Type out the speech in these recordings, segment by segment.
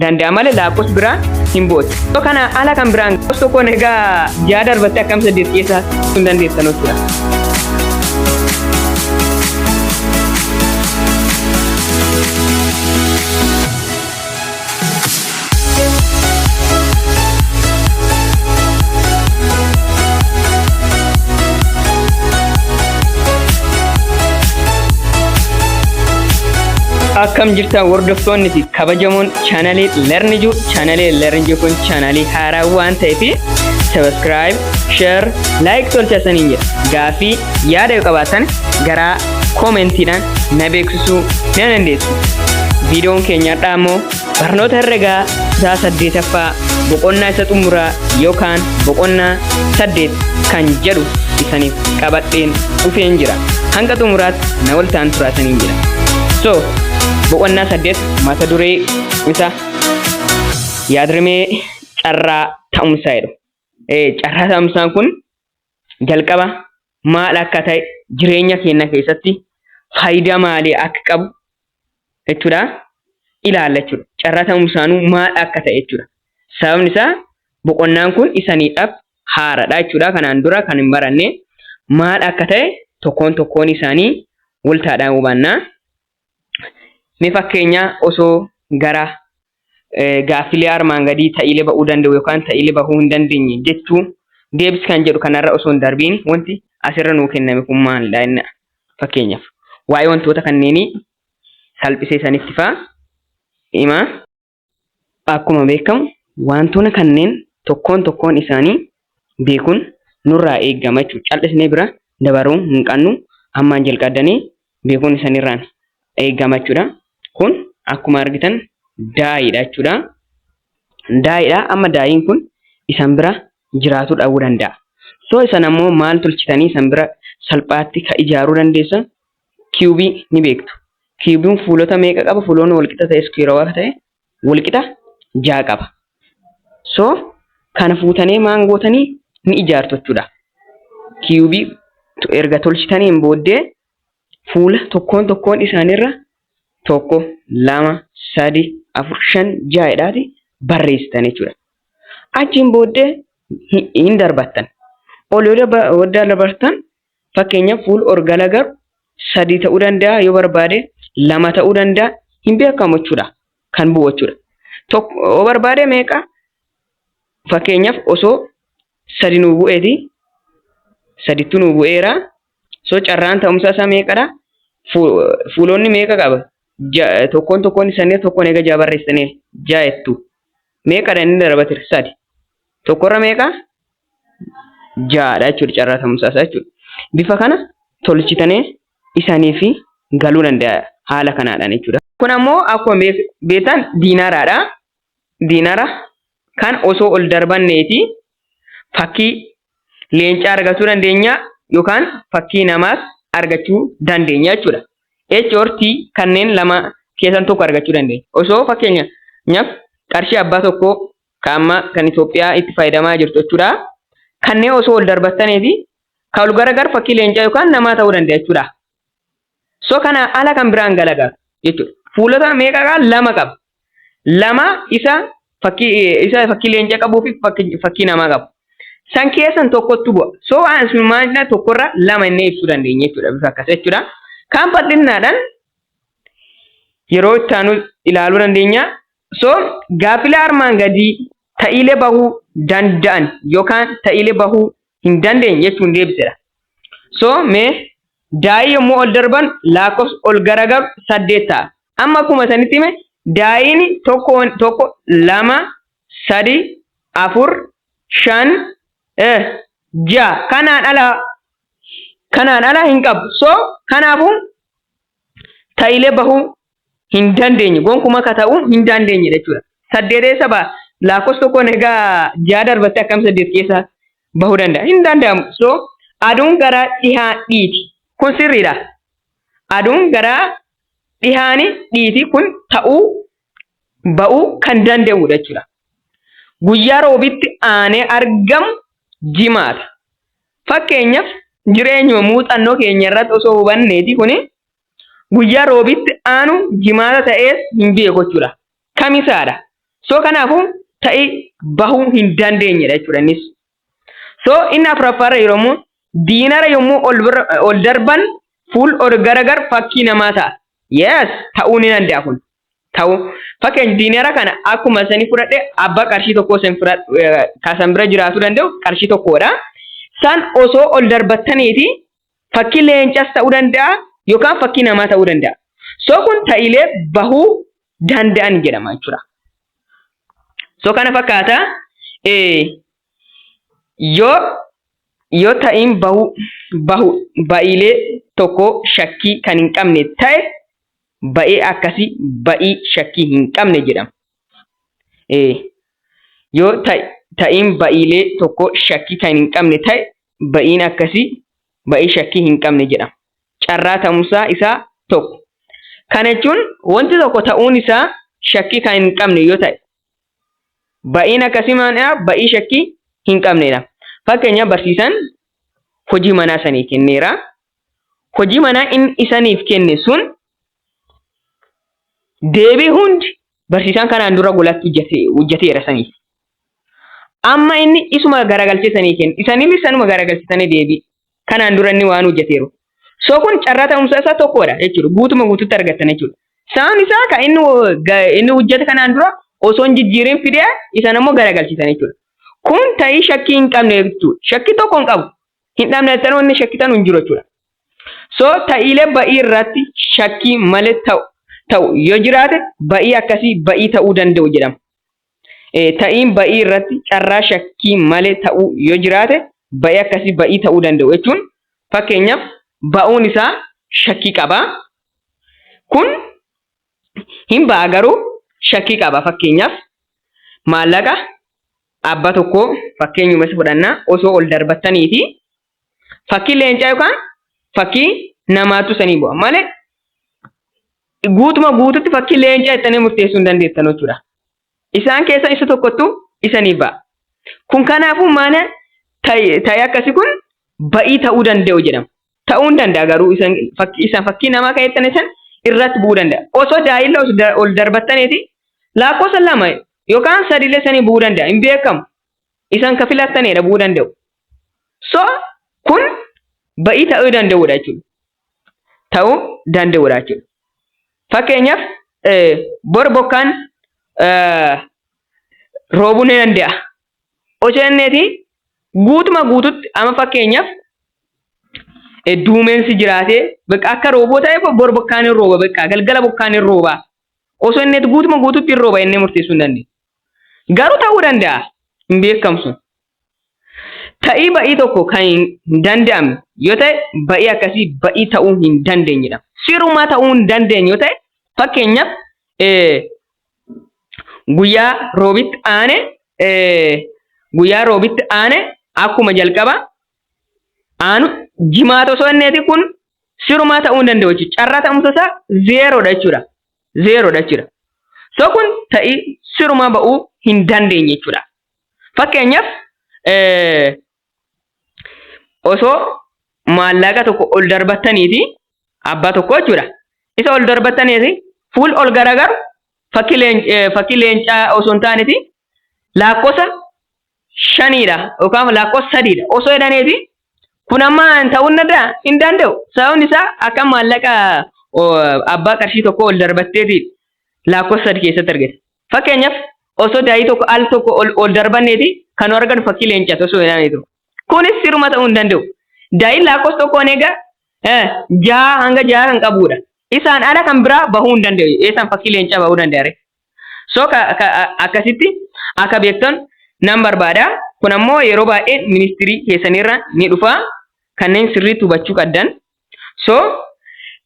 danda'a malee laakkos biraan hin bootu. Yoo kana ala kan biraan gosa tokkoon erga ja'a darbattee akkam saddeet keessaa sun dandeessan hojjeta. Akkam jirtan hordoftoonni kabajamoon chaanalii Learniju chaanalii Learniju kun chaanalii haaraa waan ta'eef subscribe, share, like tolcha isaniin jedha. Gaafii yaada yoo qabaatan garaa koomentiidhaan na beeksisuu ni dandeessu. Viidiyoon keenya har'aa immoo barnoota herregaa kutaa saddeetaffaa boqonnaa isa xumuraa yookaan boqonnaa saddeet kan jedhu isaniif qabadheen dhufeen jira. Hanga xumuraatti na waltaan turaasaniin jira. So, Boqonnaa saddeet mata duree isa yaadrimee carraa ta'umsaa jedhu. Carraa ta'umsaan kun jalqaba maal akka ta'e jireenya keenya keessatti faayidaa maalii akka qabu jechuudha ilaalla jechuudha. Carraa ta'umsaanuu maal akka ta'e jechuudha. Sababni isaa boqonnaan kun isaniidhaaf haaradha jechuudha. Kanaan dura kan hin baranne maal akka ta'e tokkoon tokkoon isaanii waltaadhaan hubanna. Mee fakkeenya osoo gara gaaffilee armaan gadii ta'iilee ba'uu danda'u yookaan ta'iilee bahuu hin dandeenye jechuu deebis kan jedhu kanarra osoo hin darbiin wanti asirra nuu kenname kun maalidha inni fakkeenyaaf waa'ee wantoota kanneenii salphisee sanitti fa'a hima. Akkuma beekamu wantoona kanneen tokkoon tokkoon isaanii beekuun nurraa eegama jechuudha. Cal'isnee bira dabaruu hin qabnu. Ammaan jalqabdanii beekuun isanirraan eegama jechuudha. Kun akkuma argitan daayiidha jechuudha. Daayiidha. Amma daayiin kun isan bira jiraatuu dhabuu danda'a. So isan ammoo maal tolchitanii isan bira salphaatti ka ijaaruu dandeessan kiyubii ni beektu. Kiyubiin fuulota meeqa qaba? Fuulonni walqixa ta'e iskuweerawaa akka ta'e walqixa ja'a qaba. So kana fuutanii maan gootanii ni ijaartu jechuudha. Kiyubii erga tolchitaniin booddee fuula tokkoon tokkoon isaaniirra tokko, lama, sadi, afur, shan, ja'a jedhaati barreessitan jechuudha. Achiin booddee hin darbattan. Ol yoo dabartan Fakkeenyaaf fuul or gala gar sadii ta'uu danda'a yoo barbaade lama ta'uu danda'a hin beekamu jechuudha kan bu'u jechuudha. Tokko barbaade meeqa fakkeenyaaf osoo sadi nuu bu'eeti sadittu nuu bu'eera so carraan ta'umsa isaa meeqadha fuulonni meeqa qaba tokkoon tokkoon isaanii tokkoon egaa ja'a barreessine ja'a jettu meeqadha inni darbatira sadi tokkorra meeqa ja'adha jechuudha carraa ta'umsaa isaa jechuudha. Bifa kana tolchitanii isaniif galuu danda'a haala kanaadhaan jechuudha. Kun ammoo akkuma beektan diinaaraadha. Diinaara kan osoo ol darbanneeti fakkii leencaa argachuu dandeenya yookaan fakkii namaas argachuu dandeenya jechuudha. H or T kanneen lama keessan tokko argachuu dandeenya. Osoo fakkeenyaaf qarshii abbaa tokkoo Ka amma kan Itoophiyaa itti fayyadamaa jirtu jechuudha. Kanneen osoo wal darbattanii fi kan wal garagar fakkii leencaa yookaan namaa ta'uu danda'a jechuudha. So kana ala kan biraan galagalu jechuudha. Fuulota meeqa qaba? Lama qaba. Lama isa fakkii isa fakkii leencaa qabuu fi fakkii namaa qabu. San keessan tokkottu bu'a. So asummaadha tokkorra lama inni ibsuu dandeenya jechuudha. Bifa akkas jechuudha. Kan bal'innaadhaan yeroo itti aanu ilaaluu dandeenya. So, gaaffilee armaan gadii ta'iilee bahuu danda'an yookaan ta'iilee bahuu hin dandeenye jechuun deebisedha. So, mee daa'ii yommuu ol darban laakkofsi ol garagaru saddeet ta'a. Amma akkuma isanitti hime daa'iin tokko tokko lama, sadi, afur, shan, eh, ja'a kanaan ala kanaan ala hin qabu. So, kanaafuu ta'iilee bahuu hin dandeenye gonkuma ka ta'u hin dandeenye jechuudha. Saddeet eessa ba'a? Laakkoofsa tokkoon egaa ja'a darbattee akkam saddeet keessa bahuu danda'a? Hin danda'amu. So aduun gara dhihaa dhiiti. Kun sirriidha. Aduun gara dhihaani dhiiti kun ta'uu ba'uu kan danda'udha jechuudha. Guyyaa roobitti aanee argamu jimaata. Fakkeenyaaf jireenyuma muuxannoo keenya irratti osoo hubanneeti kuni guyyaa roobitti aanu jimaata ta'ees hin beeku jechuudha. Kamisaadha. So kanaafuu ta'i bahuu hin dandeenyedha jechuudha innis. So inni afuraffaarra yeroo immoo diinara yommuu ol, ol darban fuul ol garagar fakkii namaa ta'a. Yes ta'uu ni danda'a kun. Ta'uu fakkeenya diinara kana akkuma isanii fudhadhe abbaa qarshii tokkoo isin kasan bira jiraatu danda'u qarshii tokkodha. San osoo ol darbattaniiti Fakkii leencas ta'uu danda'a yookaan fakkii namaa ta'uu danda'a. So kun ta'ilee bahuu danda'an jedhama jechuudha. So kana fakkaata yoo yoo ta'iin bahuu bahu ba'iilee tokko shakkii kan hin qabne ta'e ba'ee akkasii ba'ii shakkii hin qabne jedhama. Yoo ta'iin ba'iilee tokko shakkii kan hin qabne ta'e ba'iin akkasii ba'ii shakkii hin qabne jedhama. Carraa ta'umsaa isaa tokko. Kana jechuun wanti tokko ta'uun isaa shakkii kan hin qabne yoo ta'e ba'iin akkasii maanaa ba'ii shakkii hin qabnedha. Fakkeenya barsiisaan hojii manaa isanii kenneera. Hojii manaa inni isaniif kenne sun deebii hundi barsiisaan kanaan dura golatti hojjeteera saniif. Amma inni isuma garagalchee sanii kenna. Isaniinis sanuma garagalchisanii deebii. Kanaan dura inni waan hojjeteeru. So kun carraa ta'umsa isaa tokkodha jechuudha. Guutuma guututti argattan jechuudha. Saan isaa kan inni inni hojjete kanaan dura osoo hin jijjiirin fidee isan ammoo garagalchisan jechuudha. Kun ta'ii shakkii hin qabne jechuudha. Shakkii tokko hin qabu. Hin dhabne jettanii wanni shakkitan hin jiru jechuudha. So ta'iilee ba'ii irratti shakkii malee ta'u ta'u yoo jiraate ba'ii akkasii ba'ii ta'uu danda'u jedhama. ta'iin ba'ii irratti carraa shakkii malee ta'uu yoo jiraate ba'ii akkasii ba'ii ta'uu danda'u jechuun fakkeenyaaf ba'uun isaa shakkii qaba. Kun hin ba'a garuu shakkii qaba fakkeenyaaf maallaqa abba tokkoo fakkeenyuma isa fudhannaa osoo ol darbattanii fi Fakkii leencaa yookaan fakkii namaatu sanii bu'a malee guutuma guututti fakkii leencaa ittanii murteessuu hin dandeessan jechuudha. Isaan keessa isa tokkottu isanii ba'a. Kun kanaafuu maana ta'e akkasii kun ba'ii ta'uu danda'u jedhama. Ta'uu hin danda'a garuu isaan fakkii namaa kan ittan isan irratti bu'uu danda'a. Osoo daa'illa ol darbattaniiti lakkoofsa lama yookaan sadiillee sanii bu'uu danda'a hin beekamu. isan ka filattane dhabuu danda'u. So kun ba'ii ta'uu danda'udha jechuudha. Ta'uu danda'udha jechuudha. Fakkeenyaaf bor bokkaan roobuu ni danda'a. Osoo inneeti guutuma guututti amma fakkeenyaaf duumeensi jiraatee bakka akka rooboo ta'e bor bokkaan hin rooba bakka galgala bokkaan hin rooba Osoo inni itti guutuma guututti hin rooba inni murteessuu hin dandeenye. Garuu ta'uu danda'a hin beekamu sun. Ta'ii ba'ii tokko kan hin danda'amne yoo ta'e ba'ii akkasii ba'ii ta'uu hin dandeenye jedhama. Sirumaa ta'uu hin dandeenye yoo ta'e fakkeenyaaf guyyaa roobitti aane guyyaa roobitti aane akkuma jalqaba aanu jimaata osoo inni kun sirumaa ta'uu hin danda'u jechuudha. Carraa ta'umsa isaa zeeroodha jechuudha. Zeeroodha jechuudha. So kun ta'ii sirumaa ba'uu hin dandeenye jechuudha. Fakkeenyaaf osoo maallaqa tokko ol darbattaniiti abbaa tokko jechuudha. Isa ol darbattaniiti fuul ol garagaru fakkii leencaa osoo hin taaneeti laakkosa shaniidha yookaan lakkoofsa sadiidha osoo jedhaneefi kun amma ta'uu hin danda'a hin danda'u sababni isaa akka maallaqa abbaa qarshii tokko ol darbatteeti lakkoofsa sadi keessatti argite fakkeenyaaf osoo daa'ii tokko al tokko ol darbanneeti kan nu arganu fakkii leencas osoo jedhamee jiru kunis siruma ta'uu hin danda'u daa'iin lakkoofsa tokkoon egaa jaha hanga jaha kan qabudha isaan ala kan biraa bahuu hin danda'u eessan fakkii leencaa bahuu danda'are So ka, ka, akkasitti akka beektan nan barbaada. Kun ammoo yeroo baay'ee ministirii keessanirra ni dhufa. Kanneen sirriitti hubachuu qabdan. So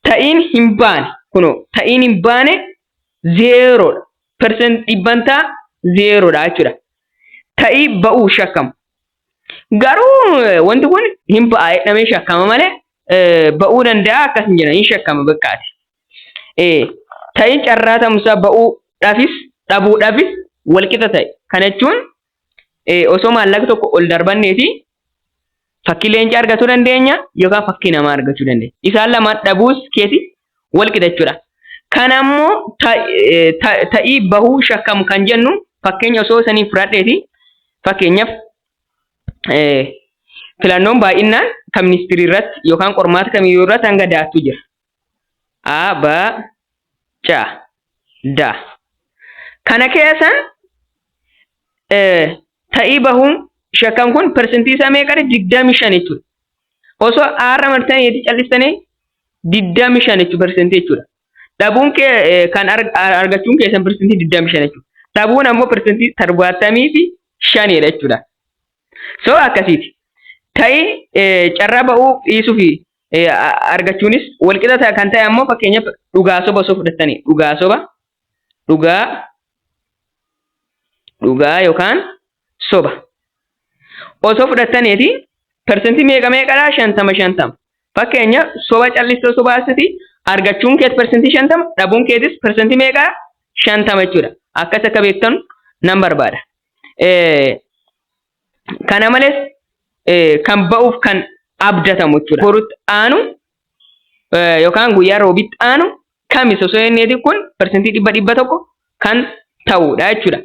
ta'iin hin baane kunoo ta'iin hin baane zeeroodha. Persent dhibbantaa zeeroodha jechuudha. Ta'ii ba'uu shakkamu. Garuu eh, wanti kun hin ba'a jedhamee shakkama malee eh, ba'uu danda'a akkas hin jedhan hin shakkama baqqaati. Ee, ta'i carraa ta'umsaa ba'uu dhafis dhabuu dhafis walqixa ta'i. Kana jechuun osoo maallaqa tokko ol darbanneeti fakkii leencaa argachuu dandeenya yookaan fakkii namaa argachuu dandeenya. Isaan lamaan dhabuus keeti walqixa jechuudha. Kana ammoo ta'ii bahuu shakkamu kan jennu fakkeenya osoo sanii fudhadheeti fakkeenyaaf filannoon baay'inaan kan ministirii irratti yookaan qormaata kamiyyuu irratti hanga daattuu jira. a ba ca da kana keessan ta'ii bahuun shakkan kun persentii isaa meeqadha digdamii shan jechuudha osoo aarra martanii itti callistanii digdamii shan jechuudha persentii jechuudha dhabuun kee kan argachuun keessan persentii digdamii shan jechuudha dhabuun ammoo persentii torbaatamii fi shanidha jechuudha so akkasiiti ta'ii carraa ba'uu dhiisuu fi argachuunis walqixa kan ta'e ammoo fakkeenyaaf dhugaa soba osoo fudhattanii dhugaa soba dhugaa dhugaa yookaan soba osoo fudhattaniiti persentii meeqa meeqadha shantama shantama fakkeenyaaf soba callistoo soba asiti argachuun keet persentii shantama dhabuun keetis persentii meeqaa shantama jechuudha akkas akka beektan nan barbaada. Kana malees kan ba'uuf kan abdatamu jechuudha. Borutti aanu yookaan guyyaa roobitti aanu kamis osoo jenneeti kun persentii dhibba dhibba tokko kan ta'uudha jechuudha.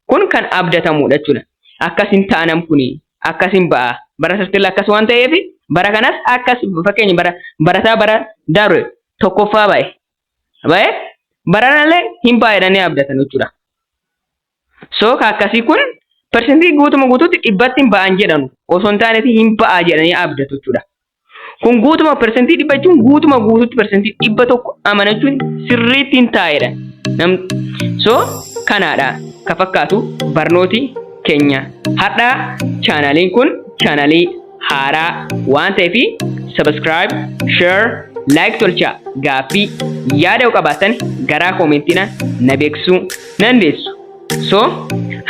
Kun kan abdatamuudha jechuudha. Akkas hin taanam kuni akkas hin ba'a. Bara sartilla akkas waan ta'eef bara kanas akkas fakkeenya bara barataa bara dabre tokkoffaa ba'e. Ba'e baranallee hin ba'a jedhanii abdatan jechuudha. So ka akkasii kun persentii guutuma guutuutti dhibbatti hin ba'an jedhanu osoo hin taaneeti hin ba'a jedhanii abdatu jechuudha. Kun guutuma persentii dhibba jechuun guutuma guutuutti persentii dhibba tokko amanachuun sirriitti hin taa'edha. So kanaadha ka fakkaatu barnooti keenya. Hadhaa chaanaaliin kun chaanaalii haaraa waan ta'eef subscribe, share, like tolchaa gaaffii yaada yoo qabaattan garaa koomentina na beeksisuu nan deessu. So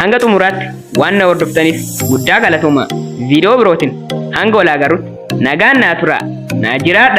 hanga xumuraatti waan na hordoftaniif guddaa galatooma viidiyoo birootiin hanga walaa garutti nagaan naa tura naa jiraadha.